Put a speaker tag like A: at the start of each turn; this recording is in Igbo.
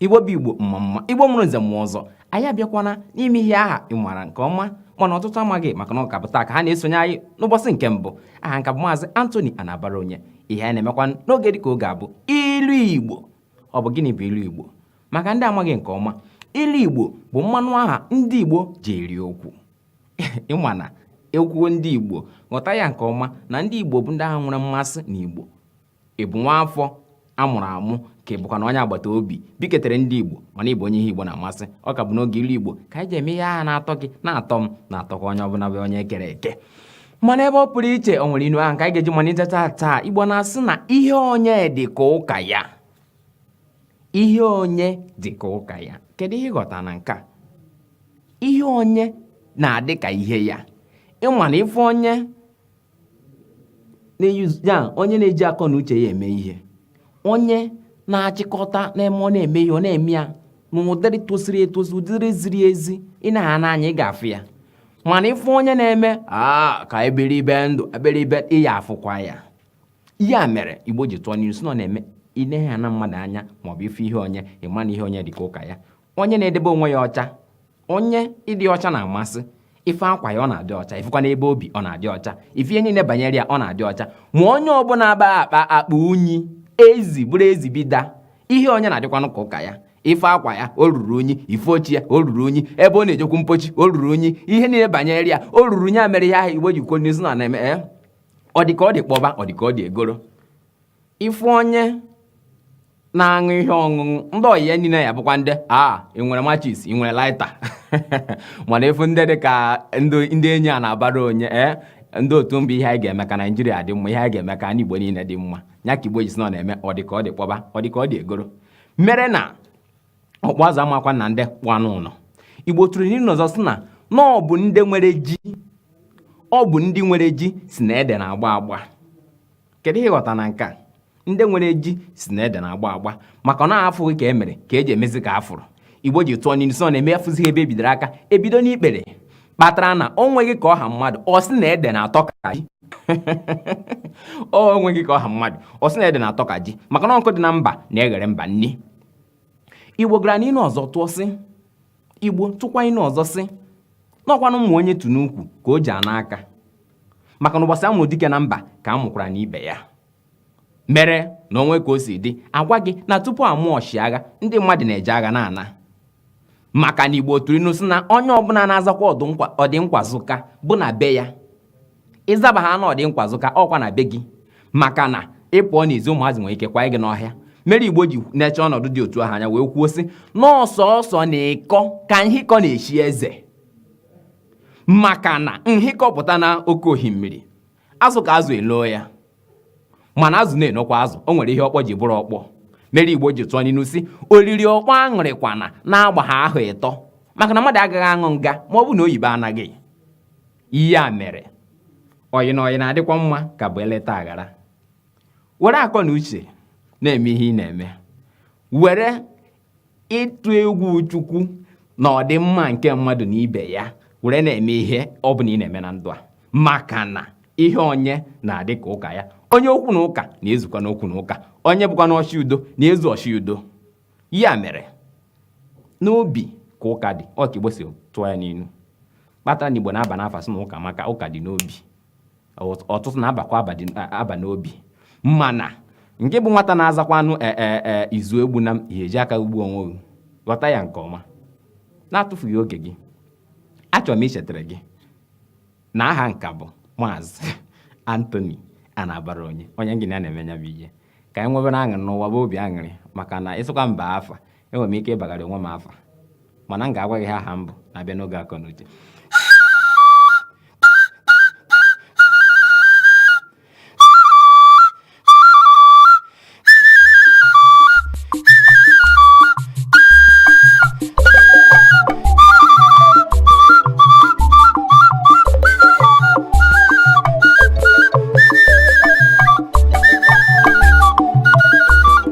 A: igbo bụ igbo mma mma igbo mụrụ nze mụọ ọzọ anyị abịakwana n'ime ihe aha ị maara nke ọma mana ọtụtụ amaghị maka na ọ ka bụ taa ka ha na-esonye anyị n'ụbọchị nke mbụ aha m ka bụ maazị Anthony Anabara onye ihe anyị na-emekwa n'oge dịka oge a bụ ilu igbo ọ bụ gịnị bụ ilu igbo maka ndị amaghị nke ọma ilu igbo bụ mmanụ aha ndị igbo ji eri okwu ị ma na e kwuo ndị igbo ghọta ya nke ọma na ndị igbo bụ ndị ahụ nwere mmasị na igbo ị bụ nwa afọ a mụrụ amụ ka ị bụkwanụ onye agbata obi biketere ndị igbo mana ị bụ onye ihe igbo na-amasị ọ ka bụ n'oge ilu igbo ka anyị ji eme ihe aha na-atọ gị na-atọ m na-atọkwa onye ọbụla bụ onye e kere eke mana ebe ọ pụrụ iche o nwere inu ahụ ka anyị ga-eji malite taa taa igbo na-asị na ihe onye dị ka ụka ya ihe onye dị ka ụka ya kedu ihe ị ghọta na nke a ihe onye na-adị ka ihe ya ị ma na ị fụ onye ya onye na-eji akọ na uche ya eme ihe onye na-achịkọta na-eme ọ na-eme ihe ọ na-eme ya n'ụdịrị tosiri etosi ụdịrị ziri ezi ị na ha n'anya ị ga-afụ ya mana ị fụ onye na-eme aa ka eberibe ndụ eberibe ị ya-afụkwa ya ihe a mere igbo ji tụọ n'inu sị na ọ na-eme inehe ya na mmadụ anya maọbụ ị fụ ihe onye ị ma na ihe onye dịka ụka ya onye na-edebe onwe ya ọcha onye ịdị ọcha na-amasị ị fụ akwa ya ọ na-adị ọcha ị fụkwa n'ebe o bi ọ na-adị ọcha ị fụ ihe niile banyere ya ọ na-adị ọcha ma onye ọbụla aba akpa akpa unyi ezi bụrụ ezi bida ihe onye na-adịkwanụ ka ụka ya ị fụ akwa ya o ruru unyi ị fụ oche ya o ruru unyi ebe ọ na-ejekwu mpochi o ruru unyi ihe niile banyere ya o ruru unyi a mere ihe ahụ igbo ji kwuozi na ọ na-eme eh? ọ dị ka ọ dị kpọba ọ dị ka ọ dị egoro ị fụ onye na-aṅụ ihe ọṅụṅụ ndị ọyị ya niile ya-abụkwa ndị a ị nwere machis ị nwere laịta mana ị fụ ndị dị ka ndị enyi a na-abara onye ee ndị otu mbụ ihe anyị ga-eme ka naijiria dị mma ihe anyị ga-eme ka anyị igbo niile dị mma ya ka igbo ji sị na ọ na-eme ọ dị ka ọ dị kpọba ọ dị ka ọ dị egoro mere na ọkpụ azụ amakwa na ndị kpụ anụ ụlọ igbo tụrụ n'ilu ọzọ sị na na ọ bụ ndị nwere ji ọ bụ ndị nwere ji sị na ede na-agba agba kedu ihe ị ghọta na nke a ndị nwere ji sị na ede na-agba agba maka na a fụghị ka e mere ka e ji emezi ka a fụrụ igbo ji tụọ n'ilu sị ọ na-eme a fụzighị ebe e bidoro aka e bido n'ikpere kpatara na o nweghị ka ọ ha mmadụ ọ sị na ede na-atọ ka ji o nweghị ka ọ ha mmadụ ọ sị na ede na-atọ ka ji maka na nkụ dị na mba na-eghere mba nni igbo gara n'ilu ọzọ tụọ sị igbo tụkwa ilu ọzọ sị na ọ kwanụ mma onye tu n'ukwu ka o ji ana aka maka na ụbọchị a mụrụ dike na mba ka a mụkwara na ibe ya mere na o nwe ka o si dị agwa gị na tupu a mụọ ọchịagha ndị mmadụ na-eje agha na-ana maka na igbo tụrụ inu sị na onye ọbụla na-azakwa ọdịnkwa zụka bụ na be ya ị zaba aha na ọdịnkwa zụka ọkwa na be gị maka na ị pụọ n'ezi ụmụazị nwere ike kwa gị n'ọhịa mere igbo ji nechaa ọnọdụ dị otu ahụ anya wee kwuo sị na ọ sọọsọ na ịkọ ka nhịkọ na-echi eze maka na nhịkọ pụta na oke ohimiri azụ ka azụ enoo ya mana azụ na-enokwa azụ o nwere ihe okpo ji bụrụ okpo mere igbo ji tụọ n'inu sị oriri okpo aṅụrịkwana na-agba ha ahụ ịtọ maka na mmadụ agaghị aṅụ nga ma ọ bụ na oyibo anaghị ihe a mere ọyị na ọyị na-adịkwa mma ka bụ eleta aghara were akọ na uche na-eme ihe ị na-eme were ịtụ egwu chukwu na ọdịmma nke mmadụ na ibe ya were na-eme ihe ọ bụla ị na-eme na ndụ a maka na ihe onye na-adị ka ụka ya onye okwu na ụka na-ezukwanụ okwu na ụka onye bụkwanụ ọchị udo na-ezu ọchị udo ya mere n'obi ka ụka dị ọ ka igbo si tụọ ya n'inu kpatara na igbo na-aba n'afa sị na ụkamaka ụka dị n'obi ọtụtụ na-abakwa aba n'obi mana nke bụ nwata na-azakwanụ e, e, e, izu egbuna m ihe eji aka gbuo onwe gị ghọta ya nke ọma na-atụfughị oge gị achọrọ m ichetara gị na aha m ka bụ maazị Anthony Anabaraonye onye injinịa na-eme nya bụ ihe ka anyị nwebere aṅụrị n'ụwa bụ obi aṅụrị maka na ị sị ka m baa afa enwere m ike ịbagara onwe m afa mana m ga-agwa gị ha aha m bụ na-abịa n'oge akọ na uche